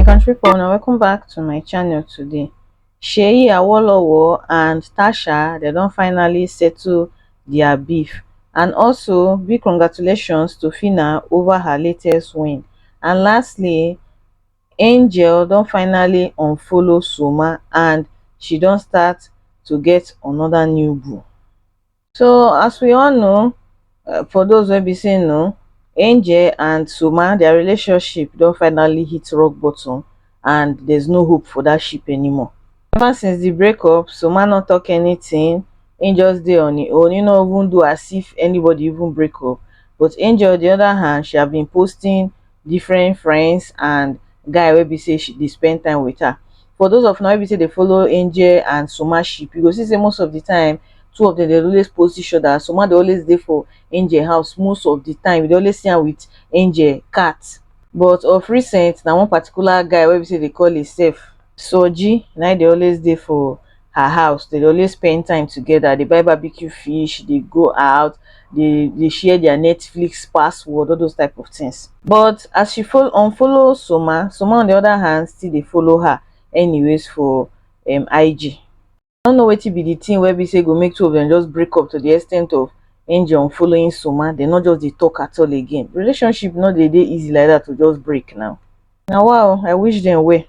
country people now welcome back to my channel today Seyi Awolowo and Tasha they don't finally settle their beef and also big congratulations to Fina over her latest win and lastly Angel don't finally unfollow Soma and she don't start to get another new boo So as we all know, uh, for those wey be say no, Angel and Suma, their relationship don finally hit rock bottom and there's no hope for that ship anymore. Ever since the breakup, Suma not talk anything. Angel's dey on his own. You know, even do as if anybody even break up. But Angel, on the other hand, she have been posting different friends and guy wey be say she dey spend time with her for those of una wey be say dey follow angel and suma ship you go see say most of the time two of them dey always post each other suma dey always dey for angel house most of the time you dey always see am with angel cat but of recent na one particular guy wey be say dey call himself soji na him dey always dey for her house dey always spend time together dey buy barbecue fish dey go out dey dey share their netflix password all those type of things but as she follow unfollow soma soma on the other hand still dey follow her anyways for um ig i no know wetin be the thing wey be say go make two of them just break up to the extent of angel unfollowing soma they no just dey talk at all again relationship no dey dey easy like that to just break now na wa o i wish dem well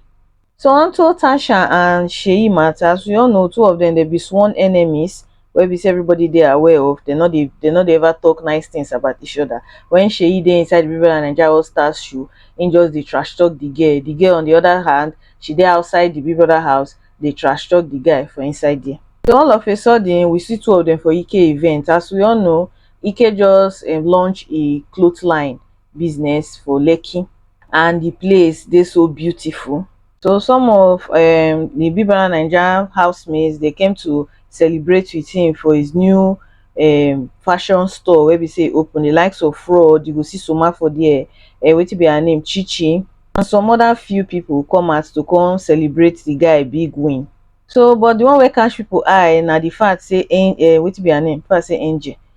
so onto tasha and seyi matter as we all know two of dem dem be sworn enemies wey be say everybody dey aware of dem no dey dem no dey ever talk nice things about each other when seyi dey inside the big brother naija all stars show him just dey trash talk the girl the girl on the other hand she dey outside the big brother house dey trash talk the guy for inside there so all of a sudden we see two of dem for ike event as we all know ike just um launch e cloth line business for Lekki and the place dey so beautiful. So some of um, the Big Brother Naija housemates they came to celebrate with him for his new um, fashion store where we say open the likes of fraud you go see soma for there uh, eh, wetin be her name chichi and some other few people come out to come celebrate the guy big win so but the one where catch people eye now the fact say uh, eh, eh, wetin be her name fact say angel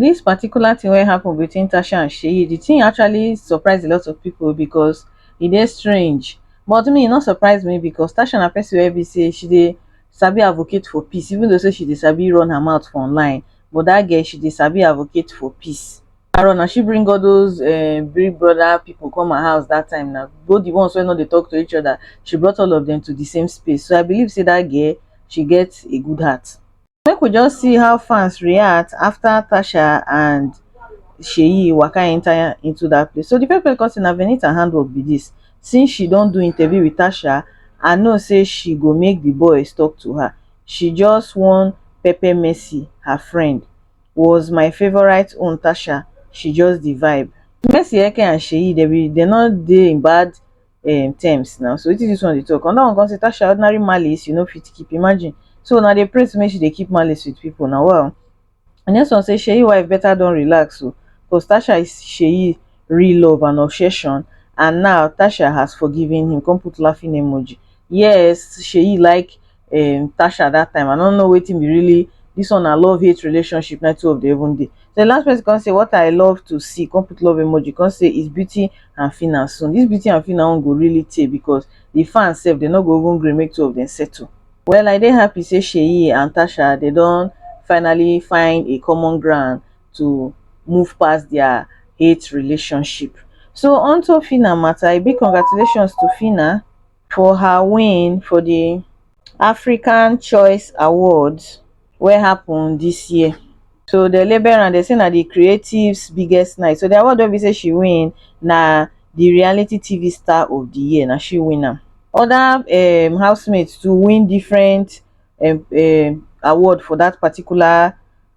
Dis particular thing wey happen between Tasha and Seyi, the thing actually surprise a lot of people because e dey strange. But me, e no surprise me because Tasha na person wey be say she dey sabi advocate for peace even though say she dey sabi run her mouth for online. But that girl, she dey sabi advocate for peace. After all, na she bring all those um big brother people come her house that time now. Both the ones wey no dey talk to each other, she brought all of them to the same space. So I believe say that girl, she get a good heart. Make we just see how fans react after Tasha and Seyi waka enter into that place. So the first person come say na Venita handwork be this. Since she don do interview with Tasha, I know say she go make the boys talk to her. She just wan pepper Mercy, her friend. Was my favourite own Tasha, she just the vibe. Mercy Eke and Seyi, they be they no dey in bad um terms now so wetin dis one dey talk another one come say tasha ordinary malice you no fit keep imagine so una dey pray to make she dey keep malice with people na wow the next one say seyi wife better don relax o cause tasha is seyi real love and obsession and now tasha has forgiven him come put laughing emoji yes seyi like um Tasha that time. I don't know waiting be really this one I love hate relationship na two of the even day. So the last person can say what I love to see, come put love emoji, can say is beauty and fina soon. This beauty and fina won't go really tey because the fans sef they not go even gree make two of them settle. Well I dey happy say Sheyi and Tasha they don't finally find a common ground to move past their hate relationship. So on to Fina matter, a big congratulations to Fina. for her win for di africa choice awards wey happun dis year so dem label am dem say na di creatives biggest night so di award wey be say she win na di reality tv star of di year na she win am oda um housemates too win different um award for dat particular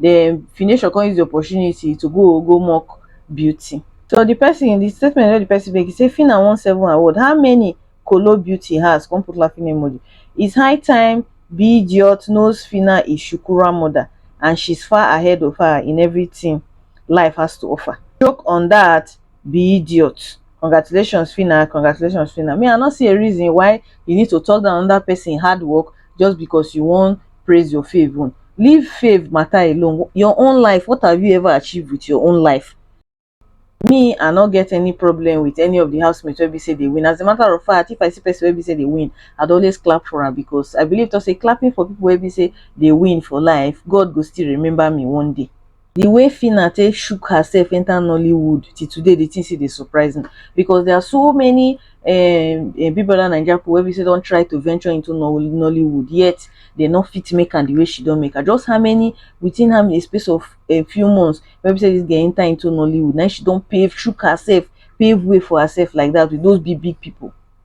den Finashion come use di opportunity to go go mock Beauty. So di pesin di statement wey di pesin make e say Phyna won seven award, how many kolo Beauty has come put laughing emoji. It's high time bdiot knows Phyna is Shukura mother and she's far ahead of her in everything life has to offer. Joke on that bdiot. Congratulations Phyna, congratulations Phyna. Me I no see a reason why you need to talk down another pesin hard work just because you won praise your fave own leave fave matter alone your own life what have you ever achieved with your own life me i no get any problem with any of the housemates wey be say they win as a matter of fact if i see person wey be say they win i'd always clap for her because i believe to say clapping for people wey be say they win for life god go still remember me one day the way Fina take shook herself enter Nollywood till today, the thing still dey surprise me because there are so many um, um, Big Brother Naija people wey be say don try to venture into Nollywood yet they no fit make am the way she don make her. Just how many within how many space of a few months wey be say this girl enter into Nollywood now she don pave shook herself pave way for herself like that with those big big people.